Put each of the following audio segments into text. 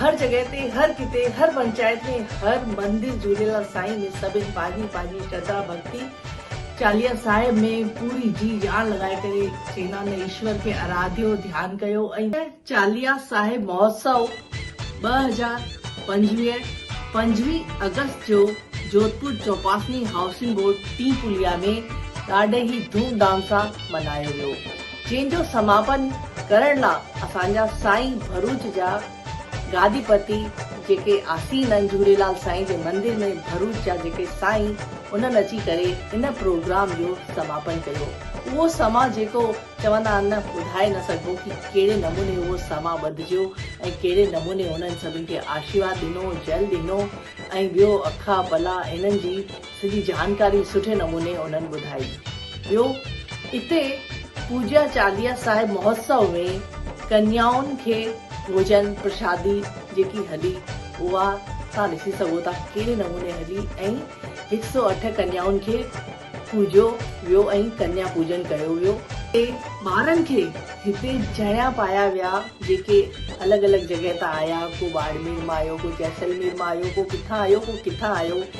هر جڳهه تي هر ڪٿي هر پنچائت ۾ هر مندر جهوليلال سائين ۾ سڀن پنهنجي پنهنجي شرڌا ڀڳتي چاليهه صاحب ۾ پوري جي جان لڳائي ڪري چينا ۾ ايشور کي آراڌيو ڌيان ڪيو ۽ چاليهه صاحب مهوتسو ٻه هزار پنجويهه پنجويهه آگسٽ جو جوڌپور چوپاسني هائوسنگ بورڊ ٽين پليا ۾ ڏاڍي ئي ڌوم ڌام سان ملهايو ويو. جنهن جو سماپن ڪرڻ لا اسان جا سائين ڀروچ جا گادي پتي جيڪي آسين آهن جهوليلال سائين جي مندر ۾ ڀروچ جا جيڪي سائين انهن اچي ڪري ان پروگرام جو سماپن ڪيو اهو سماء جيڪو چوندا آهن نه ٻڌائي نه سگهبو ڪي ڪهڙي نموني اهو سماء ٻڌجيو ۽ ڪهڙي نموني انهن سڀن کي آشيواد ڏنو جل ڏنو ۽ ٻيو اکا پلا انهن جي سڄي جانڪاري سٺي نموني انهن ٻڌائي. ٻيو اتي پوڄيا چاليها صاحب مهوتسو ۾ ڪنيائن کي ڀوڄن پرشادي جيڪي هلي اها تهان ڏسي سگهو ٿا ڪهڙي نموني هلي ۽ هڪ سؤ اٺ ڪنيائن کي پوڄيو ويو ۽ ڪنيا پوڄن ڪيو ويو ۽ ٻارن کي هتي جهيڙا پايا ويا جيڪي الڳ الڳ جڳهه تان آيا ڪو ٻاڙمير مان آيو ڪو جيسلمير مان آيو ڪو ڪٿان آيو ڪو ڪٿان آيو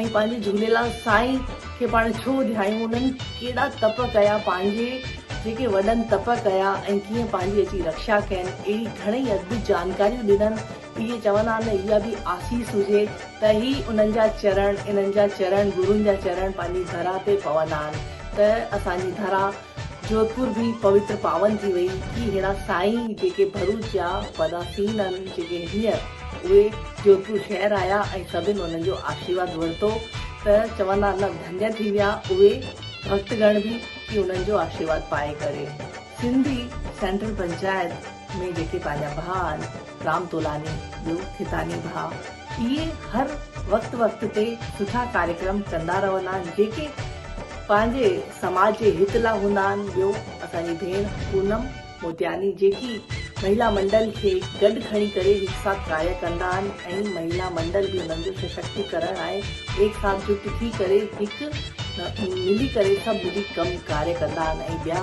۽ پنهنجي جهوليلال سائين کي پاڻ ڇو ڌيايون انهن ڪهڙا تپ ڪيا پنهنجي جيڪي وڏن تپ ڪيا ۽ ڪيئن پنهنجي اچي رڪشا ڪين اهڙي گهڻئي ادبي جانڪاريون ڏنن اهي چوندا آهن نه اها به آسيس هجي ته هي انهن جا چرڻ انهن جا چرڻ گرون جا چرڻ پنهنجي ڌرا تي پوندا آهن ته اسان جي ڌرا جوڌپور به پوتر پاون ٿي وئي ڪي ههڙا سائين جيڪي ڀروچ جا وڏا سين آهن جيڪي هينئر اهي جوڌپور شهر آيا ۽ سڀن انهن جو آشيرواد ورتو ته چوندا نه ڌنيا ٿي ويا اهي ڀڪت گڻ به ڪي انهن جو آشيرواد پائي ڪري سنڌي سينٽرل پنچائت ۾ جيڪي پنهنجا ڀاء آهن رام تولاني جو کيتاني ڀاء اهي هر وقت وقت تي سٺا ڪاريڪرم ڪندا رهندا آهن جيڪي پنهنجي سماج جي هت لا هوندا آهن ٻيو اسان جي ڀيڻ پونم موتياني جيڪي مهيلا منڊل کي گڏ کڻي ڪري هڪ ساٿ ڪاريه ڪندا آهن ۽ مهيلا منڊل به انهن جو سشڪتي ڪرڻ آهي ايڪ ساٿ جٽ ٿي ڪري هڪ ملي ڪري سڀ ملي ڪم ڪاريه ڪندا آهن ۽ ٻيا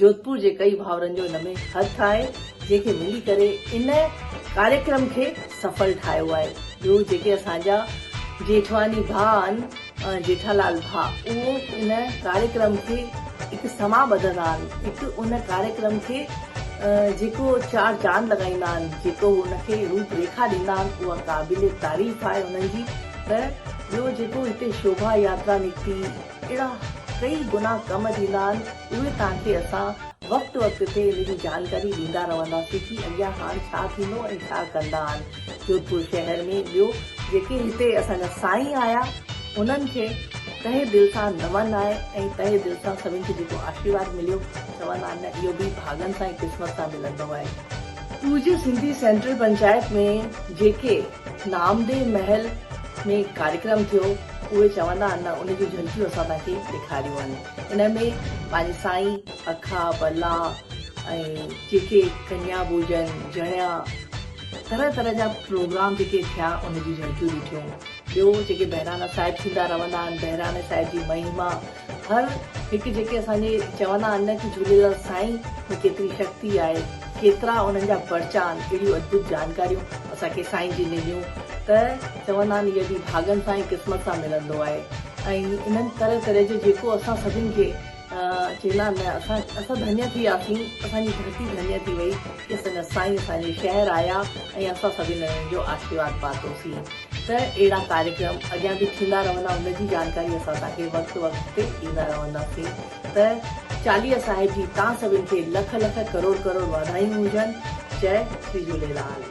جوڌپور جي ڪئي ڀاورن جو ان ۾ هٿ آهي جنهن کي ملي ڪري ان ڪاريڪرم کي سڦل ٺاهيو آهي ٻيو جيڪي اسان جا جيٺواني ڀاء آهن جيٺالال ڀاء اهو ان ڪاريڪرم کي هڪ سما ٻڌندا آهن هڪ ان ڪاريڪرم کي جيڪو چار چاند لڳائيندا آهن جيڪو ان کي روپ ريکا ڏيندا آهن اها قابل تعريف آهي انهن جي ته ٻيو جيڪو هتي شوڀا ياترا نڪتي ڪهڙا ڪئي گناهه ڪم ٿيندا آهن اهي توهان کي اسان وقت وقت تي ان جي جانڪاري ڏيندا رهنداسين ڪي اڳيان هاڻ ڇا ٿيندو ۽ ڇا ڪندا آهن جوڌپور شهر ۾ ٻيو جيڪي هتي اسان جا سائين آيا انهن کي تهه دل سان نمن آهي ۽ تهه دل سان سڀن کي جيڪو آشيرواد مليو چوندا آهن نه اهو به ڀاڳن سان ۽ قسمت سان ملندو آهي. ٽوجي سنڌي سينٽرل پنچائت ۾ جيڪي نامدي محل ۾ ڪاريڪرم ٿيو اهي چوندا آهن نه ان جون جهلڪيون اسان توهان کي ڏيکاريون آهن ان ۾ پنهنجي سائين اکا بلا ۽ جيڪي ڪنيا ڀوڄن جڻيا طرح طرح جا پروگرام جيڪي ٿيا ان جون جهلڪيون ڏٺيون ٻيو جيڪي بهراڻا صاحب ٿيندا رهندا آهن بهراڻي صاحب جي مهيما هر هڪ جيڪي اسان جي چوندا آهن نه ڪي جهوليلال سائين ۾ ڪيتري شڪتي آهي ڪيترا انهن جا پرچا آهن اهڙيون ادڀت جانڪاريون اسان کي سائين جي مليون ته چوندا آهن هي به ڀاڳن سان ۽ قسمت سان ملندو آهي ۽ انهن طرح طرح جو جيڪو اسان سڀن کي چيندا آهن نه اسان اسان ڌنيه ٿي وياسين اسان جي ڌرتي ڌنيه ٿي وئي ڪي سندس سائين اسان جي شهر آيا ۽ اسان سڀن انهن جو آشيرواد پاتوسين. ته اهڙا ڪاريڪرم اڳيان به ٿيندا رهندا ان جي جانڪاري اسان توهان کي وقت وقت تي ڏيندا رهنداسين ته چاليهه صاحب جي توهان سڀن کي لک لک ڪروڙ ڪروڙ واڌايون هجن جئه شري جهوليلال.